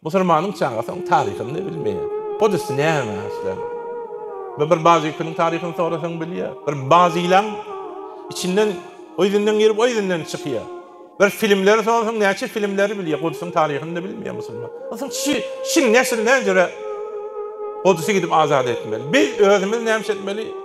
Musulmanyň çagasy oň taryhyny-da bilmeýär. Podesty näme isläň. Bu bir bazykiniň taryhyny sorasaň bilýär. Bir bazylaň içinden o ýüzünden girip o ýüzünden çykýar. Bir filmleri sorasaň näçe filmleri bilýär. Godusyň taryhyny-da bilmeýär musulman. Onsoň şi şiň neşir näjüre Godusy gidip azat etmeli. Biz özümiz näme etmeli?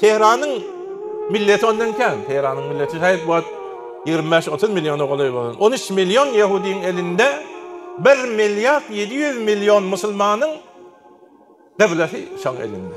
Tehranyň milleti ondan kän. Tehranyň milleti şaýat bu wagt ýigrimi bäş, otuz milliona golaý bolan. On üç million ýehudyň elinde bir milliard ýedi ýüz million musulmanyň gyblesy şoň elinde.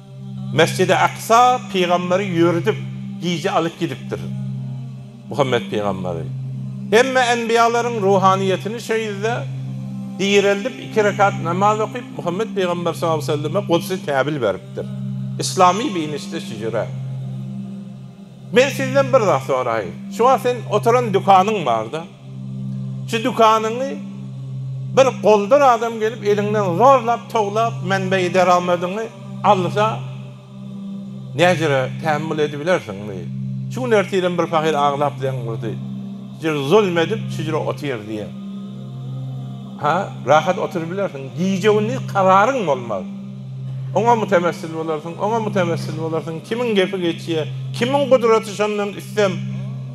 Mesjidi Aksa pygamberi ýöredip gije alyp gidipdir. Muhammet pygamberi hemme enbiýalaryň ruhanyýetini şo ýerde direldip iki rekat namaz okyp Muhammet pygamber sallallahu aleyhi ve selleme Gudsi täbil beripdir. Islamy biynişde şu jüre. Men sizden bir zat soraýyn. Şu wagt sen oturan dükanyň barda. Şu dükanyňy bir goldur adam gelip eliňden zorlap towlap menbeýi deramadyňy alsa näjere tämmül edibilersiňmi? Şu gün ertirem bir pahyr aglap zeň urdy. Şujur zulm edip şujur otyr diýe. Ha, rahat oturybilersiň. Gije-gündiz kararyň bolmaz. Oňa mütemessil bolarsyň, oňa mütemessil bolarsyň. Kimiň gepi geçýe, kimiň gudraty şondan üstem.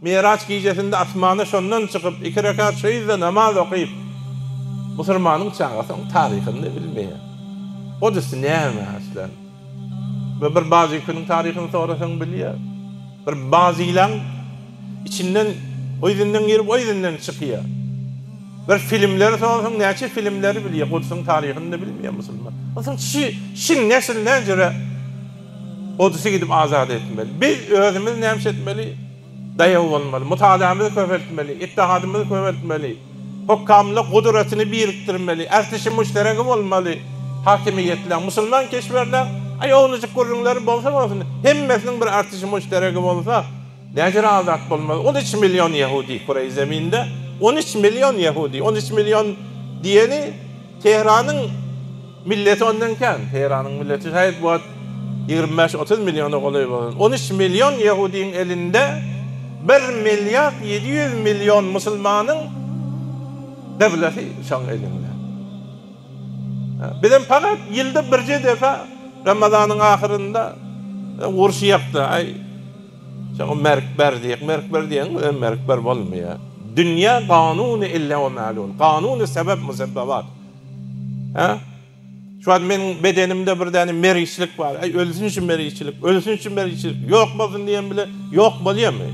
Mi'raç gijesinde asmana şondan çykyp, iki rekat şu ýerde namaz okyp, musurmanyň çagasy onuň taryhyny-da bilmeýär. Ol üsti näme aslan? Ve bir bazyküniň taryhyny sorasaň bilýär. Bir bazylaň içinden o ýüzünden girip, o ýüzünden çykýar. Bir filmleri sorasaň näçe filmleri bilýär, Gudsyň taryhyny-da bilmeýär musulman. Onsoň şi, şiň nesil näjüre? Gudusy gidip azat etmeli. Biz özümiz näme etmeli? Daýaw bolmaly. Mutaliýamyzy köpeltmeli. Ittihadymy köpeltmeli. Hukkamlyk gudratyny birikdirmeli. Ählisi müşderegi bolmaly. Hakimiýetleň, musulman keşberleň, aý owlujyk gürrüňleri bolsa bolsun, hemmesiniň bir artisi müşderegi bolsa, näder azat bolmaz? On üç million ýehudi kuraý zeminde, on üç million ýehudi, on üç million diýeni Tehranyň, Milleti ondan kän. Tehranyň milleti şaýat bu wagt ýigrimi bäş, otuz milliona golaý bolan. On üç million ýehudyň elinde bir milliard ýedi ýüz million musulmanyň gyblesi şoň elinde. Bizem pagat ýylda birje depe Ramazanyň ahyrynda urşýakda, aý, şoňa merk ber diýýäk. Merk ber diýýäň, bizem merk ber bolmaýar. Dünýä ganuny ille we malul. Ganuny sebep-musebbebat. Hä? Şu wagt meniň bedenimde bir däne meriçlik bar. Äý, ölsün şu meriçlik, ölsün şu meriçlik, ýok bolsun diýen bilen ýok bolýarmy?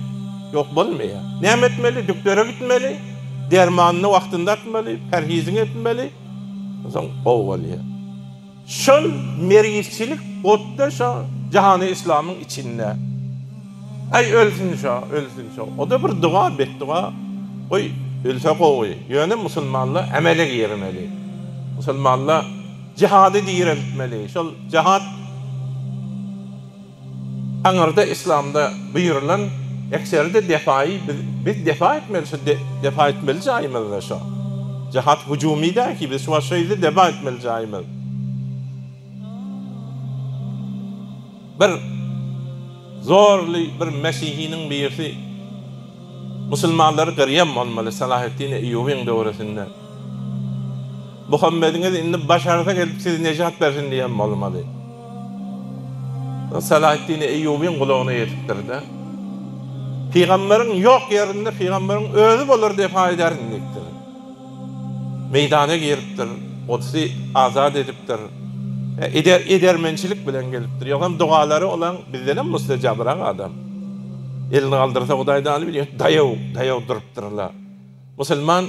Ýok bolmaýar. Näme etmeli? Dükdere gitmeli, dermanyny wagtynda atmaly, perhiziňi etmeli, onsoň gowy bolýar. Şol mergizçilik otda şo jahany islamyň içinde. Aý ölsün şo, ölsün şo. Oda bir duga, betduga. Goý ölse gowy. Ýöne musulmanlar emele girmeli. Musulmanlar jihady direltmeli. Şol jihat. Aňyrda Yslamda buýrulan ekseri-de depaýy biz depa etmeli şu depa etmeli jaýymyzda şo. Jahat hüjümi däl ki biz şu wagt şo ýerde depa etmeli jaýymyz. Bir zorly bir mesihiniň birisi musulmanlary gyrýan bolmaly Salaheddin Eýýubyň döwresinde. Muhammediňiz indi başarsa gelip sizi nejat bersin diýen bolmaly. O Salaheddin Eýýubyň gulagyna ýetipdir-de, Pygamberiň ýok ýerinde pygamberiň özi bolar diýip haý edersiň diýipdir. Meýdana giripdir, Gudsy azat edipdir. Eder, edermençilik bilen gelipdir. Ýogsam dogalary olaň bizdenem mustejabrak adam. Elini galdyrsa Hudaý daly bilýär. Daýaw, daýaw durupdyr-la. Musulman